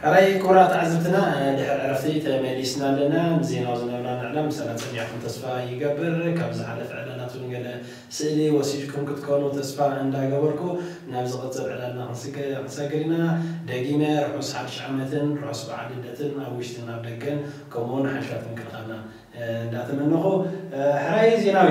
ሕራይ ክቡራት ተዓዘብትና ድሕሪ ዕረፍቲ ተመሊስና ኣለና ንዜናዊ ዝነበራ ንዕላም ምሳና ጸኒዕኩም ተስፋ ይገብር ካብ ዝሓለፈ ዕላላት ውን ገለ ስእሊ ወሲድኩም ክትኮኑ ተስፋ እንዳ ገበርኩ ናብ ዝቅጽል ዕላልና ክንሰግር ኢና ደጊመ ርሑስ ሓድሽ ዓመትን ርሑስ በዓል ልደትን ኣብ ውሽጥን ኣብ ደገን ከምኡ ውን ሓይልታት ምክልኻልና እንዳ ተመነኹ ሕራይ ዜናዊ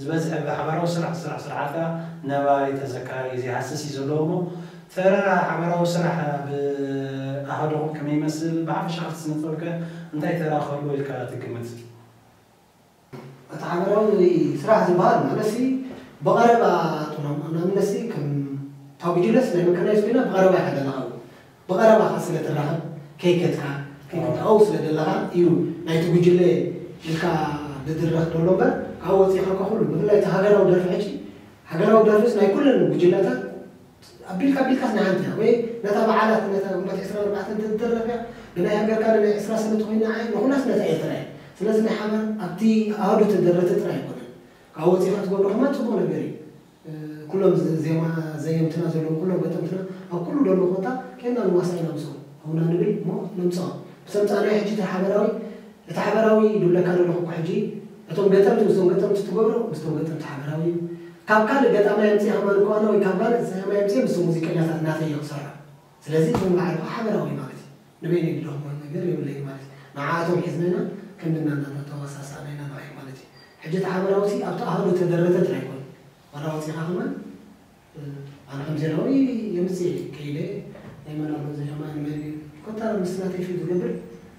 ዝበዝሐ ብሓባራዊ ስራሕ ዝስራሕ ስርሓት ከኣ ነባሪ ተዘካሪ ዘይሃስስ እዩ ዘለዎ እሞ ተረራ ሓባራዊ ስራሕ ኣብ ኣሃዱኹም ከመይ ይመስል? ብሓፈሻ ኣብቲ ስነ-ጥበብ ከ እንታይ ተራ ክህልዎ ኢልካ ትግምት? እቲ ሓባራዊ ስራሕ ዝበሃል ማለትሲ ብቐረባ ጥሎም ንኣብነትሲ ከም ታጉጅለስ ናይ መካናይዝ ኮይና ብቐረባ ኢኻ ደለኻ ብቐረባኻ ስለ ትራኸብ ከይከድካ ከይክትኣው ስለ ደለኻ እዩ ናይቲ ጉጅለ ኢልካ ዝድረኽ ደሎ እምበር ካብኡ ወጺእኻ እኳ ኩሉ ብፍላይ እቲ ሃገራዊ ደርፊ ሕጂ ሃገራዊ ደርፍስ ናይ ኩለን ጉጅለታት ኣቢልካ ኣቢልካስ ናይ ሓንቲ እያ ወይ ነታ በዓላት ነታ ግንቦት ዕስራን ኣርባዕተን እንተትድረፍ እያ ብናይ ሃገርካ ዶ ናይ ዕስራ ሰነ ተኾይና ዓይ ንኹላስ ነታ ኤርትራ እያ ስለዚ ናይ ሓባር ኣብቲ ኣሃዱ ተደረተ ጥራይ ኣይኮነን ካብኡ ወጺእኻ ትገብሮ ከማን ጽቡቕ ነገር እዩ ኩሎም ዜማ ዘየምትና ዘለዉ ኩሎም ገጠምትና ኣብ ኩሉ ደሎ ኮታ ኬንና ንዋሳእ ኢና ምስኦም ኣውና ንብል እሞ ነምጽኦም ብተምጻእናዮ ሕጂ እቲ ሓበራዊ እቲ ሓበራዊ ዱብለካ ደለኹ እኮ ሕጂ እቶም ገጠምቲ ምስቶም ገጠምቲ ትገብሮ ምስቶም ገጠምቲ ሓበራዊ እዩ ካብ ካልእ ገጣማይ ኣምጺእኻ ማንኮኣና ወይ ካብ ጋልእ ዘያማይ ኣምጺኤ ምስቶም ሙዚቀኛታት ናተይ እየ ክሰርሖ ስለዚ እዞም ላዕለዋ ሓበራዊ ማለት እዩ። ንበይነይ ድደኽሞ ነገር የብለይን ማለት እዩ። ንዓኣቶም ሒዝና ኢና ክንድና እናተተዋሳሳእና ኢና ንርኣዮም ማለት እዩ። ሕጂ እቲ ሓበራዊ'ሲ ኣብቲ ኣሃዱ እተደረተ ጥራይ ኣይኮነን። ዋላ ኣውጺእኻ ከማን ኣነ ከም ዜናዊ የምጽእ እየ ከይደ ናይ መን ኣሎ እዚ ከማን ንመን እዩ ኮታ ምስቲ ናተይ ፊት ዝገብር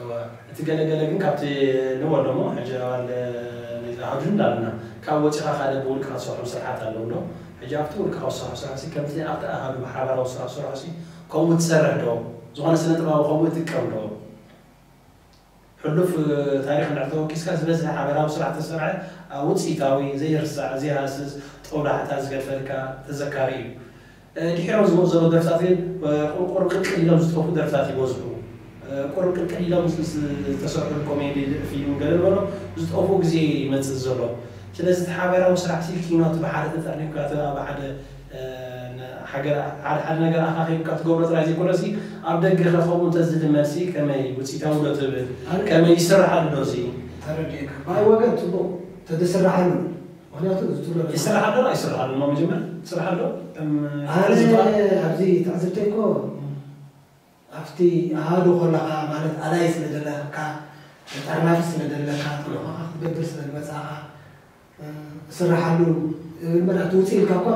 እወ እቲ ገለ ገለ ግን ካብቲ ንበሎ እሞ ሕጂ ኣባል ናይዛ ኣሃዱ እንዳበልና ካብኡ ወጺኻ ካልእ ብውልቅኻ ትሰርሖም ስርሓት ኣለዉ ዶ? ሕጂ ኣብቲ ውልቅኻ ዝሰርሖ ስራሕሲ ከምቲ ኣብቲ ኣሃዱ ብሓባራዊ ስራሕ ዝሰርሖሲ ከምኡ ትሰርሕ ዶ? ዝኾነ ስነጥበባዊ ከምኡ ይጥቀም ዶ? ሕሉፍ ታሪኽ እንድሕር ተወኪስካ ዝበዝሐ ሓበራዊ ስራሕ ዝተሰርሐ ኣብ ውጽኢታዊ ዘይርሳዕ ዘይሃስስ ጦብላሕታ ዝገድፈልካ ተዘካሪ እዩ። ድሒሮም ዝመጹ ዘለዉ ደርፍታት ግን ቁሩብ ቅልቅል ኢሎም ዝጠፍኡ ደርፍታት ይበዝሑ። ቁሩብ ቅልቅል ኢሎም ምስ ዝተሰርሑሉ ኮሜዲ ፊልም ገለ ንበሎ ዝጠፍኡ ግዜ ይመጽእ ዘሎ። ስለዚ እቲ ሓበራዊ ስራሕሲ ኪኖ እቲ ብሓደ ተጠርኒፍካ እቲ ኣብ ሓደ ሃገር ሓደ ሓደ ነገር ኣኻኺብካ ትገብሮ ጥራይ ዘይኮነሲ ኣብ ደገኸ ከምኡ እንተ ዝልመድሲ ከመይ ውጽኢታዊዶ ትብል? ከመይ ይስርሓሉዶ እዚ? ተረዲኤካ ባይ ወገን ጽቡቕ ተዝስርሓሉ ምክንያቱ እዚ ትብሎ ዘለካ ይስራሕ ኣሎ ኣይስራሕ ኣሎ እሞ መጀመር ስራሕ ኣሎ ከም ኣነ ዝበሃል ኣብዚ ትዕዝብተይ እኮ ኣብቲ ኣሃዱ ኮለኻ ማለት ኣላይ ስለ ዘለካ ተጠርናፊ ስለ ዘለካ ተልእኾኻ ክትገብር ስለ ዝመጻእኻ እስራሓሉ እብል መዳ እቲ ውጽእ ኢልካ እኳ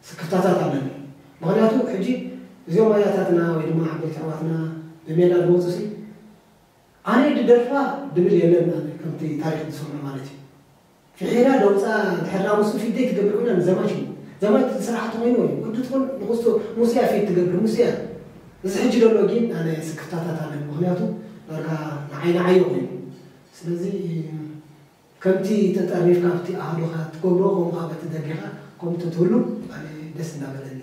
ስክፍታታት ኣለኒ ምክንያቱ ሕጂ እዚኦም ኣያታትና ወይ ድማ ዓበይቲ ኣሕዋትና ብሜላ ዝመጹ ሲ ኣነ ድደርፋ ድብል የለን ኣነ ከምቲ ታሪክ ዝሰምዑ ማለት እዩ ፍሒራ ደውፃ ድሕር ዳኣ ምስኡ ፊት ደይ ትገብር ኮይና ንዘማች እዩ ዘማች ትዝሰራሓቶ ኮይኑ ወይ ወዲ ትኩን ንኩስቶ ሙሱ እያ ፊት ትገብር ሙሱ እያ እዚ ሕጂ ደሎ ጊን ኣነ ስክፍታታት ኣለኒ ምክንያቱ ዳርጋ ንዓይ ንዓዮ ኮይኑ ስለዚ ከምቲ ተጠርኒፍካ ኣብቲ ኣሃዱኻ ትገብሮ ከምኡ ከኣ በቲ ደጊኻ ከምኡ ተትህሉ ኣነ ደስ እንዳበለኒ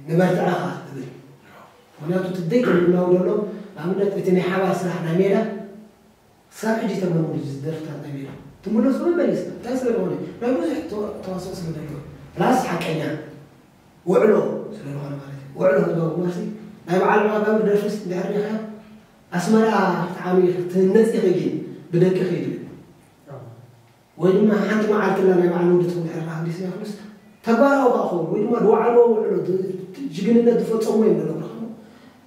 ንበርትዐ ከኣ እብል ምክንያቱ እቲ ዘይተመናዊ ደሎ ንኣብነት እቲ ናይ ሓባር ስራሕ ናይ ሜዳ ክሳብ ሕጂ ተመንኡ እዚ ደርፍታት ናይ ሜዳ ትምለሶ መመሊስካ እንታይ ስለዝኾነ ናይ ብዙሕ ተዋስኦ ስለዘለዎ ፕላስ ሓቀኛ ውዕሎ ስለ ዝኾነ ማለት እዩ። ውዕሎ ህዝባዊ ግንባርሲ ናይ በዓል መቐዳዊ ደርፍስ እንድሕር ሪኢኻዮ ኣስመራ ክትዓብዪ ክትህነጺ ኢኺ ግን ብደቅኺ እዩ ዝብል ወይ ድማ ሓንቲ መዓልቲ ላ ናይ በዓል ውድትኩም እንድሕር ካህዲስ ያፍሉስ ተግባራዊ ከኣ ክኸውን ወይ ድማ ዝወዓልዎ ውዕሎ ጅግንነት ዝፈጸሙ እዮም ዝነግሩኻ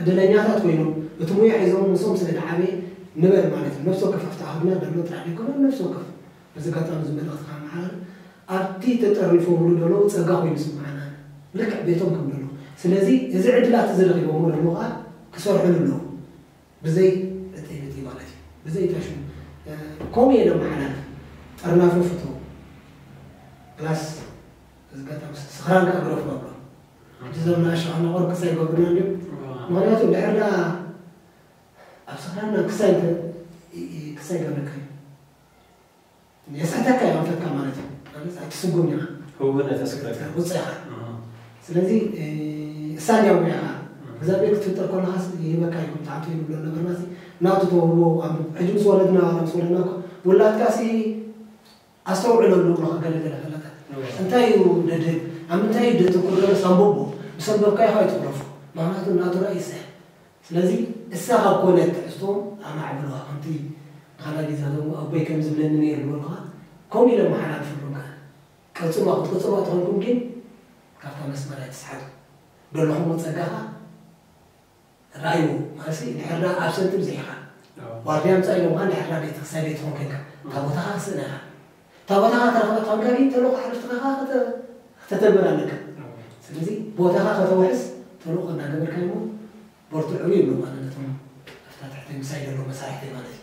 ዕድለኛታት ኮይኖም እቲ ሙያ ሒዞም ምስኦም ስለ ድዓበየ ንበል ማለት እዩ ነብሲ ወከፍ ኣብቲ ኣሃዱና ደሎ ጥራሕ ደይኮነ ነብሲ ወከፍ በዚ ኣጋጣሚ እዚ መልእኽቲ ከመሓላልፍ ኣብቲ ተጠርኒፎምሉ ደለዉ ጸጋ ኮይኑ ይስመዓና ኣነ ልክዕ ቤቶም ከም ደለዉ ስለዚ እዚ ዕድላት እዚ ረኺቦሞ ደለዉ ከኣ ክሰርሕሉ ኣለዎም ብዘይ ዕጥይብጥይ ማለት እዩ ብዘይ እታ ሽሙ ከምኡ እየ ደመሓላልፍ ጥርናፈ ፍተዉ ፕላስ በዚ ኣጋጣሚ ስኽራን ከኣ ግረፉ ኣብሎ። ኣብቲ ዘመን ኣሻቕላ ቆርክስ ኣይገብሩናን ድዮም? ምኽንያቱ እንድሕር ደኣ ኣብ ስኽራና ክሳይ እንተ ክሳይ ገብረካ እዩ። የስሕተካ እዩ ኣንፈትካ ማለት እዩ። ኣነስ ኣይትስጉም ኢኻ። ህውነት የስክረካ። ቁጽ ኢኻ። ኣሃ። ስለዚ እሳንያ ውያ ኢኻ። እግዚኣብሔር ክትፍጠር ከለኻስ ይህበካ እዩ ከም ትሓቱ እዩ ንብሎ ነበርናሲ ናቱ ተውህቦ ኣንብብ። ሕጂ ምስ ወለድና ዋላ ምስ ወለድና እኮ ውላድካሲ ኣስተውዕሎ ኣሎ እግርኻ ገለ ገለ ከለታት እንታይ እዩ ደደ ኣብ ምንታይ እዩ ደተኩር ገለስ ኣንቦቦ ምስ ኣንበብካዮ ኸኣ ኣይትጉረፎ ምኽንያቱ ናቱ ራኢ ይስሕብ ስለዚ እሳ ካብ ኮነት ትሕዝትኦም ኣማዕብልዋ ከምቲ ንኻልኣይ ግዜ ክደግሞ ኣቦይ ከም ዝብለኒ ነይሩ ዝበልኩኻ ከምኡ ኢለ ኣመሓላልፈሎም ከኣ ቀጽልዋ ክትቅጽልዋ ተኾንኩም ግን ካብታ መስመር ኣይትስሓቱ ደለኹሞ ጸጋ ኸኣ ራይዎ ማለትሲ እንድሕርዳ ኣብ ሰልጢ ብዚሒኻ ዋርድያ ምጻእ ኢሎምኻ እንድሕርዳ ቤተክስታይ ቤትኹም ኮንካ ታቦታኻ ክትስእና ኢኻ ታቦታኻ ተረኽበ ፋንጋሪ ተልእኾ ሓለፍትኻ ከኣ ክተ ክተተግብር ኣለካ ስለዚ ቦታኻ ከተውሕስ ተልእኾ እናገበርካ'ሞ በርትዑ ይብሎም ኣነ ነቶም ኣብታ ትሕተይ ምሳይ ዘሎ መሳርሕተይ ማለት እዩ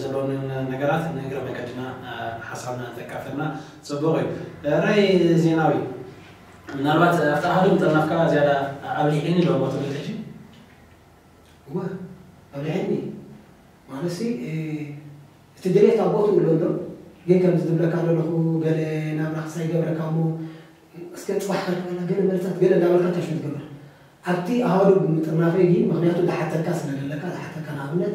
ዘሎንን ነገራት ንእግረ መገድና ሓሳብና እንተካፈልና ጽቡቕ እዩ። ራይ ዜናዊ ምናልባት ኣብታ ሃዱ ምጥርናፍካ ዝያዳ ኣብሊሒኒ ዶ እሞ ትብል ሕጂ? እወ ኣብሊሒኒ ማለትሲ እቲ ድሌት ኣብ ቦትኡ ኣሎ እንዶ ግን ከምዚ ዝብለካ ዘለኹ ገለ ናብራኽ ሳይገብረካ እሞ እስከ ጽባሕ ከርክበላ ገለ መልሳት ገለ እንዳበልካ እንታሽው ትገብር ኣብቲ ኣሃዱ ብምጥርናፈይ ግን ምኽንያቱ ዝሓተካ ስለ ዘለካ ዝሓተካ ንኣብነት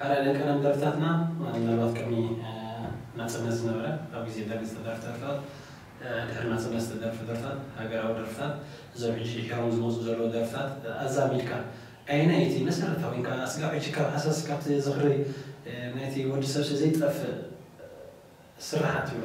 ሓደ ደቀነም ደርፍታትና ምናልባት ቅድሚ ናጽነት ዝነበረ ኣብ ግዜ ደርግ ዝተደርፍ ደርፍታት ድሕሪ ናጽነት ዝተደርፍ ደርፍታት ሃገራዊ ደርፍታት እዞም ሕጂ ድሒሮም ዝመጹ ዘለዉ ደርፍታት ኣዛሚድካ ኣየናይ እዩ እቲ መሰረታዊ ኢልካ ኣስጋብ ሕጂ ካብ ሃሳስ ካብቲ ዝኽሪ ናይቲ ወዲ ሰብሲ ዘይጠፍእ ስርሓት ትብሎ?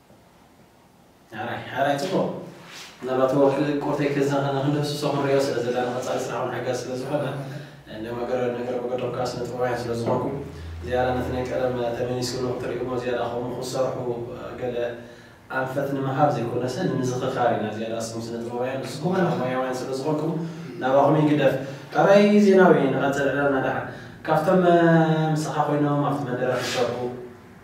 ሐራይ ሐራይ ጽቡቕ ምናልባት ወርሒ ቁርተይ ከዛኸ ንክንድህስሶ ክንሪኦ ስለ ዘለና ንቐጻሊ ስራሕ ውን ሓጋዚ ስለ ዝኾነ እንደ መገረ ነገር መገዶም ከኣ ስነ ጥበባውያን ስለ ዝኾንኩ ዝያዳ ነቲ ናይ ቀደም ተመሊስሉ ክትርእይዎ ዝያዳ ከምኡ ክትሰርሑ ገለ ኣንፈት ንምሃብ ዘይኮነሰ ንምዝኽኻር ኢና ዝያዳ እስኩም ስነ ጥበባውያን ንስኩም ከኣ ሞያውያን ስለ ዝኾንኩም ናባኹም ይግደፍ ሐራይ ዜናዊ ንቐጽል ዕላልና ደሓን ካብቶም ምሳኻ ኮይኖም ኣብቲ መደረ ክሰርሑ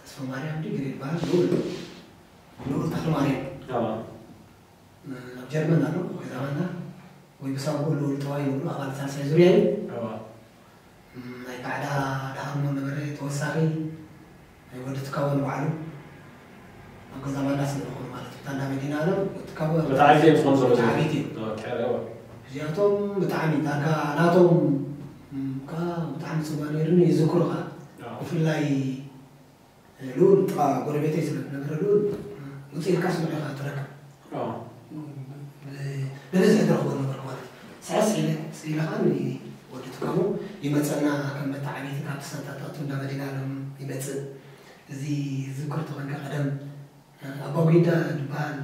ተስፋማርያም ድዩ ገለ ይበሃል ንኡድ ኣሎ ንኡድ ተኽለማርያም ኣብ ጀርመን ኣሎ ገዛ ዋና ወይ ብሳጉኡ ንኡድ ተዋይ ይብሉ ኣባል ሳልሳይ ዙርያ እዩ ናይ ባዕዳ ዳሃሞ ነበረ ተወሳኺ ናይ ወዲ ትካቦ ንባዕሉ ኣብ ገዛ ዋና ስለዝኾኑ ማለት እዩ ታንዳ መዲና ኣለም ወዲ ትካቦ ወተዓቢት እዩ ዝኾኑ ዘሎ ወተዓቢት እዩ እዚኣቶም ብጣዕሚ ዳርጋ ናቶም እካ ብጣዕሚ ጽቡቅ ነይሩ ን ይዝክሮ ከኣ ብፍላይ ልኡል ጥቃ ጎረቤተይ ስለ ዝነበረ ልኡል ውጽእ ኢልካ ስምዑ ኢካ ትረክብ ብብዝሒ ትረክቦ ነበርኩ ማለት እዩ ስዕስዕ ኢለ ኢለ ከኣ ን ወዲ ትካቦ ይመጸና ከም መተዓብይቲ ካብቲ ሳንታታቱ እንዳ መሊእናሎም ይመጽእ እዚ ዝዝክር ተኮይንካ ቀደም ኣባጉንዳ ድበሃል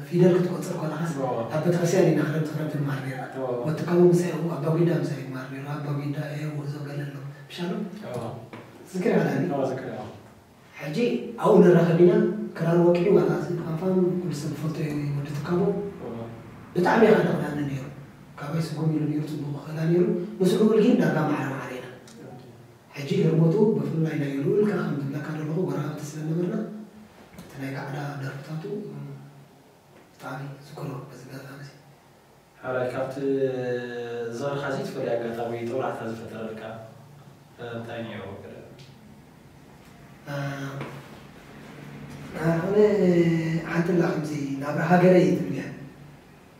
ፊደል ክትቆጽር ኮለኻስ ኣብ ቤተክርስትያን ኢና ክረምቲ ክረምቲ ንመሃር ኔርና ወዲ ካሞ ምሳይ ኣብኡ ኣባጉንዳ ምሳይ እዩ ክመሃር ኔሩ ኣባጉንዳ ኤህ ውህዞ ገለ ኣሎ ምሻሎም ዝክሪ ኣላኒ ሕጂ ኣብኡ ንራኸብ ኢና ክራር ወቂዑ ዋላ እዚ ድፋፋም ኩሉ ሰብ ዝፈልጦ እዩ ወዲ ትካቦ ብጣዕሚ እዩ ከደቕናኒ ኔሩ ካባይ ስጉም ኢሉ ኔሩ ጽቡቕ ይኽእላ ኔሩ ምስ ልኡል ጊን ዳርጋ ማዕረ ማዕረ ኢና። ሕጂ ህርመቱ ብፍላይ ናይ ሉኡልካ ከም ዝብለካ ደለኹ ጎረባብቲ ስለ ነበርና እቲ ናይ ጋዕዳ ደርፍታቱ ብጣዕሚ እዝክሮ በዚ ኣጋጣሚ እዚ። ሐራይ ካብቲ ዝኽርኻ ዘይትፈልዮ ኣጋጣሚ ጦብላሕታ ዝፈጠረልካ እንታይ ኔሩ ገለ። ኣነ ሓንቲ ኣላ ከምዚ ናብራ ሃገረይ ትብልያ።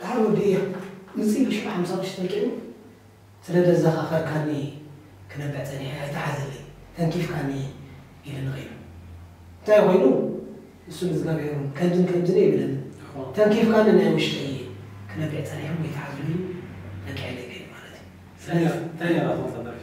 ደሓር ወዲ እየ ምጽኢ ብሽዑ ሓምሳ ቅርሺ ተልቂቑ ስለ ደዛኻኸርካኒ እየ ክነብዕ ጸኒሐ ኣይትሓዘለይ ተንኪፍካኒ እየ ኢሉኒ ከይዱ እንታይ ኮይኑ ንሱ ንዝጋብሔር ውን ከምዝን ከምዝን ኣይብለንን ተንኪፍካኒ ናይ ውሽጠይ እየ ክነብዕ ጸኒሐ እሞ ኣይትሓዙኒ ኢሉ ለቂዐለይ ከይዱ ማለት እዩ ስለዚ እንታይ ነይራ ትቕጽል ደርፊ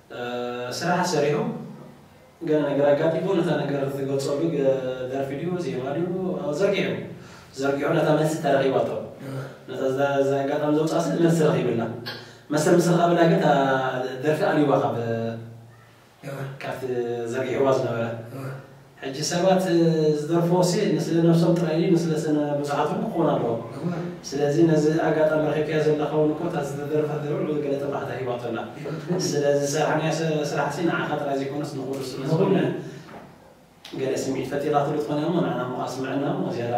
ስራሕ ሰሪሖም ገለ ነገር ኣጋጢሙ ነታ ነገር ዝገልጸሉ ደርፊ ድዩ ዜማ ድዩ ዘርጊሑ ዘርጊሑ ነታ መልሲ ተረኪባቶ ነታ ኣጋጣሚ ዘውጽኣ ሰብ መልሲ ረኪብላ መሰል ምስ ረከበላ ግን እታ ደርፊ ኣልዩዋ ካብ ካብቲ ዘርጊሕዋ ዝነበረ ሕጂ ሰባት ዝደርፍዎሲ ንስለ ነብሶም ጥራይ ድዩ ንስለ ስነ ብዙሓት ውን ክኾን ኣለዎ ስለዚ ነዚ ኣጋጣሚ ረኺብካዮ ዘለካ ውን እኮ እታ ዝተደረፈት ደርፊ ልዑል ገለ ጥርናሕታ ሂባቶ ኣላ ስለ ዝሰራሕናዮ ስራሕሲ ንዓኻ ጥራይ ዘይኮነስ ንኹሉ ስለ ዝኾነ ገለ ስምዒት ፈጢራትሉ ትኾን እያ እሞ ንዓና እሞ ከኣ ስምዕና እሞ ዝያዳ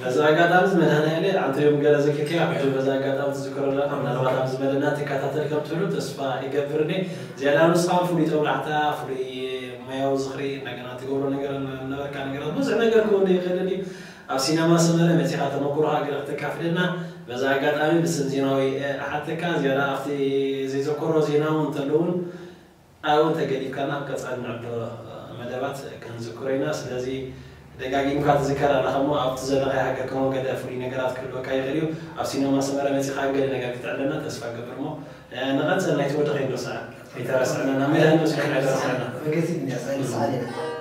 በዚ ኣጋጣሚ እዚ መድሃኒኣሌ ኣንተዮም ገለ ዝክልኪ ኣቢሑ በዚ ኣጋጣሚ ትዝክሮ ኣለካ ምናልባት ኣብዚ መደብና ትካታተል ከም ትህሉ ተስፋ ይገብር እኔ ዝያዳ ንስካ ውን ፍሉይ ጦብላሕታ ፍሉይ ሞያዊ ዝክሪ እንደገና ትገብሮ ነገር ነበርካ ነገራት ብዙሕ ነገር ክህሉ ይክእል እዩ ኣብ ሲነማ ሰመረ መጺካ ተመኩሮካ ገለ ክተካፍለና በዚ ኣጋጣሚ ብስም ዜናዊ እሓተካ ዝያዳ ኣብቲ ዘይዘኮሮ ዜና ውን እንተሎ ውን ኣው እንተገዲፍካና ኣብ ቀጻሊ ንዕብሎ መደባት ክንዝክሮ ኢና ስለዚ ደጋጊምካ ትዝከር ኣለኻ እሞ ኣብቲ ዘለኻዮ ሃገር ከሞ ገለ ፍሉይ ነገራት ክህልወካ ይኽእል እዩ ኣብ ሲነማ ሰመረ መጺኻ ገለ ነገር ክተዕለና ተስፋ እገብር እሞ ንቐጽል ናይቲ ወዲ ከይንርስዓ ኣይተረስዕና ናብ መድሃኒኖስ ግን ኣይተረስዕና።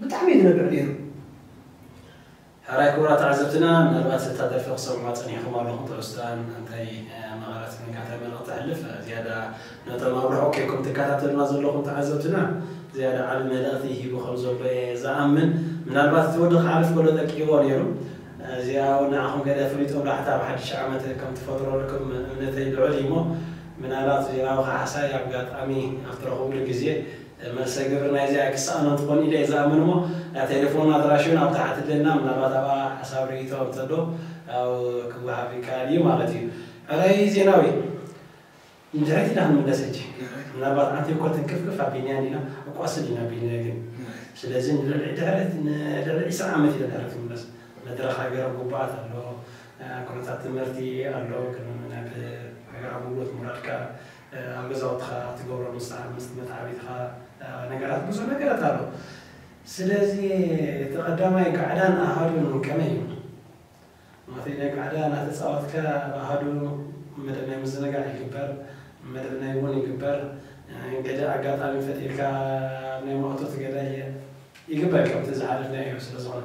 ብጣዕሚ እዩ ዝነብዕ ኔሩ። ሕራይ ክቡራት ተዓዘብትና ምናልባት እታ ደርፊ ክሰምዕዋ ጸኒሕኩም ኣለኹም ትሕዝቶኣ እንታይ መቐረት ኮይንካ እንታይ መልእኽቲ ተሕልፍ ዝያዳ ነቶም ኣብ ርሑቕ ኬንኩም ትከታተሉና ዘለኹም ተዓዘብትና ዝያዳ ዓቢ መልእኽቲ ሂቡ ከም ዘሎ እየ ዝኣምን ምናልባት እቲ ወዲ ክሓልፍ ከሎ ጠቂዎ ኔሩ እዚኣ ውን ንዓኹም ገለ ፍሊጦም ላሕታ ኣብ ሓድሽ ዓመት ከም ትፈጥረልኩም እምነተይ ልዑል እዩሞ ምናልባት እዚኣ ውን ካሕሳይ ኣጋጣሚ ኣብ ትረኽብሉ ግዜ መልሰ ግብሪ ናይዚኣ ኣይክሰኣኖን ትኾን ኢለ እየ ዝኣምን እሞ ናይ ቴሌፎን ኣድራሽኡን ኣብ ታሕቲ ደልና ምናልባት ኣብኣ ሓሳብ ርኢቶ እንተሎ ያው ክወሃብ ይከኣል እዩ ማለት እዩ። ሕራይ ዜናዊ ንድሕሪት ኢና ክንምለስ ሕጂ ምናልባት ኣንተ እኮ ትንክፍክፍ ኣቢልና እንዲና ኣቋስል ኢና ኣቢልና ግን ስለዚ ንልዕሊ ድሕሪት ንልዕሊ ዒስራ ዓመት ኢና ድሕሪት ክንምለስ መድረኽ ሃገራዊ ጉባኣት ኣሎ ኩነታት ትምህርቲ ኣሎ ግን ናብ ሃገራዊ ኣገልግሎት ምውራድካ ኣብ ገዛውትኻ ትገብሮ ምሳሕ ምስ መትዓቢትኻ ነገራት ብዙሕ ነገራት ኣሎ ስለዚ እቲ ቀዳማይ ጋዕዳን ኣሃዱን ከመይ እዩ ማተይ ናይ ጋዕዳ ናተጻወትካ ኣብ ኣሃዱ መደብ ናይ ምዝንጋዕ ይግበር መደብ ናይ ውን ይግበር ገደ ኣጋጣሚ ፈጢርካ ኣብ ናይ ማእቶት ገዳይ ይግበር ከምቲ ዝሓለፍናዮ ስለ ዝኾነ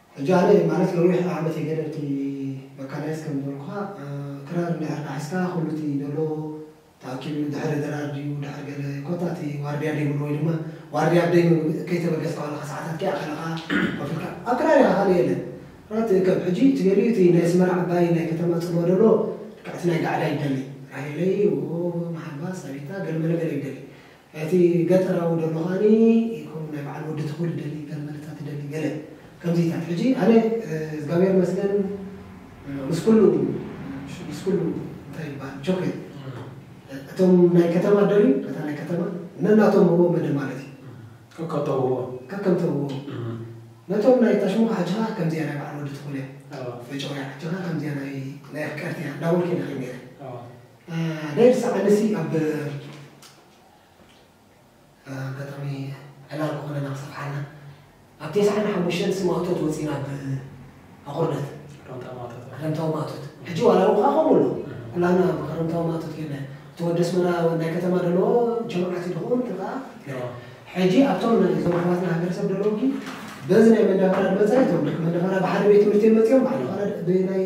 ሕጂ ኣነ ማለት ነዊሕ ዓመት እየ ገለ እቲ መካናይዝ ከም ዝበልኩኻ ክራር እንድሕር ዳሕስካ ኩሉ እቲ ዶሎ ተኣኪቡ ድሕሪ ድራር ድዩ ድሕሪ ገለ ኮታ እቲ ዋርድያ ደይብሉ ወይ ድማ ዋርድያ ኣብ ደይኑ ከይተበገስ ከዋልካ ሰዓታት ከይኣኸለኻ ኮፍ ኢልካ ኣብ ክራር ኢኻ ካልእ የለን ራት እከብ ሕጂ እቲ ገሊኡ እቲ ናይ ኣስመራ ዓባይ ናይ ከተማ ጽልዋ ዶሎ ልክዕ እቲ ናይ ጋዕዳ ይደሊ ራሄለይ ዎዎዎዎ መሓልባ ሳቢታ ገለመለ ገለ ይደሊ እቲ ገጠራዊ ደሎ ከኣኒ ከምኡ ናይ በዓል ወዲ ትኹል ይደሊ ገለ መደታት ይደሊ ገለ ከምዚታት ሕጂ ኣነ እዝጋብሄር ይመስገን ምስ ኩሉ ምስ ኩሉ እንታይ ይበሃል ቾኬ እቶም ናይ ከተማ ደርዩ እታ ናይ ከተማ ነናቶም ህቦም መደ ማለት እዩ ከከም ተውህቦ ከከም ተውህቦ ነቶም ናይ ታሽሙ ከ ሓጅኻ ከምዚያ ናይ በዓል ወዲ ትኹል እያ ፈጨውያ ሓጅኻ ከምዚያ ናይ ናይ ኣፍቀርቲያ እንዳበልኩ ኢና ከይድ ነይረ ኣነ ዝሰዓበሲ ኣብ ኣጋጣሚ ዕላል ክኾነና ክሰፍሓልና ኣብ ቴስዓን ሓሙሽተን ስም ማእቶት ወፂና ኣብ ኣቑርደት ክረምታዊ ማእቶት ክረምታዊ ማእቶት ሕጂ ዋላ እውን ከዓ ከምኡ ኣሎ ኩላና ኣብ ክረምታዊ ማእቶት ጌና እቲ ወዲ ኣስመራ ናይ ከተማ ደለዎ ጀምዓት እዩ ድኸውን እቲ ከዓ ሕጂ ኣብቶም እዞም ኣሕዋትና ሃገረሰብ ደለዉ ግን በዚ ናይ መንዳፈራ ድመፃ እቶም መንዳፈራ ብሓደ ቤት ትምህርቲ እዮም መፂኦም ብሓደ ናይ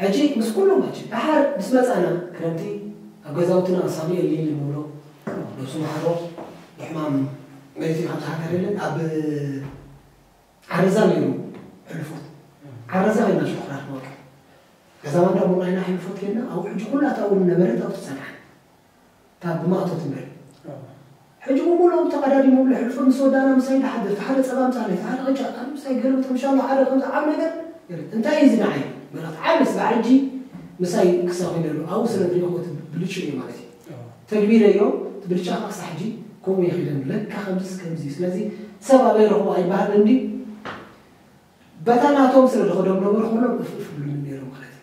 ሕጂ ምስ ኩሎም ሕጂ ደሓር ምስ መጻና ክረምቲ ኣብ ገዛውትና ሳሙኤል ሊሊ ንብሎ ነብሱ መሓሮ ብሕማም መይቱ ካብዛ ሃገር የለን ኣብ ዓረዛ ነይሩ ሕልፎት ዓረዛ ከይድና ሽኩራ ክንወቅዕ ገዛ ማንዳ ቡናይና ሕልፎት ከይድና ኣብኡ ሕጂ ኩላ ኣብኡ ዝነበረት ኣብኡ ትጸንሓ እታ ብማእቶ ትምህር ሕጂ ብምሉኦም ተቀዳዲሙ ይብሎ ሕልፎ ምስ ወዳና ምሳይ ድሓድር እቲ ሓደ ጸባ ኣምጻለይ እቲ ሓደ ቅጫ ኣነ ምሳይ ክገልብጥ ምሻሎ ሓደ ከምዚ ዓቢ ነገር ገለ እንታይ እዩ እዚ ንዓይ መልእክቲ ዓቢ ስጋዕ ሕጂ ምሳይ እንክሳ ኮይነሉ ኣብኡ ስለ ዝሪኢክዎ እቲ ብልጭኡ እዩ ማለት እዩ ተግቢረዮ እቲ ብልጫ ከኣ ክሳዕ ሕጂ ከምኡ ይኺደኒ ለካ ከምዚስ ከምዚ እዩ ስለዚ ሰብ ኣበይ ረኽቦ ኣይበሃልን እንድዩ በታ ናቶም ስለ ዝኸዶም ነበሩ ኩሎም እፍ እፍ ብሉኒ ነይሮም ማለት እዩ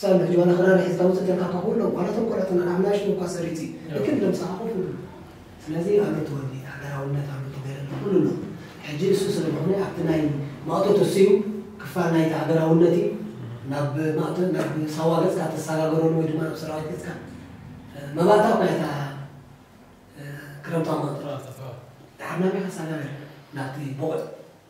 ሳሚ ጆና ክራር ሒዝካ ውጽእት ኢልካ እካ ኩሎም ዋላ እቶም ቆልዑት እና ኣብ ናሽቱ እኳ ሰሪቲ እክል ደምጽኻ ኮፍ ይብሉ ስለዚ ኣሎ እቲ ወኒ ሃገራውነት ኣሎ ተገይረሉ ኩሉ ኣሎ ሕጂ እሱ ስለ ዝኾነ ኣብቲ ናይ ማእቶት እሱ እዩ ክፋል ናይቲ ሃገራውነት እዩ ናብ ማእቶት ናብ ሳዋ ገጽካ ተሳጋገረሉ ወይ ድማ ናብ ሰራዊት ገጽካ መባእታ እኳ እታ ክረምታዊ ማእቶት ተሓርናሚ ከሳጋገር ናብቲ ቦቕዕ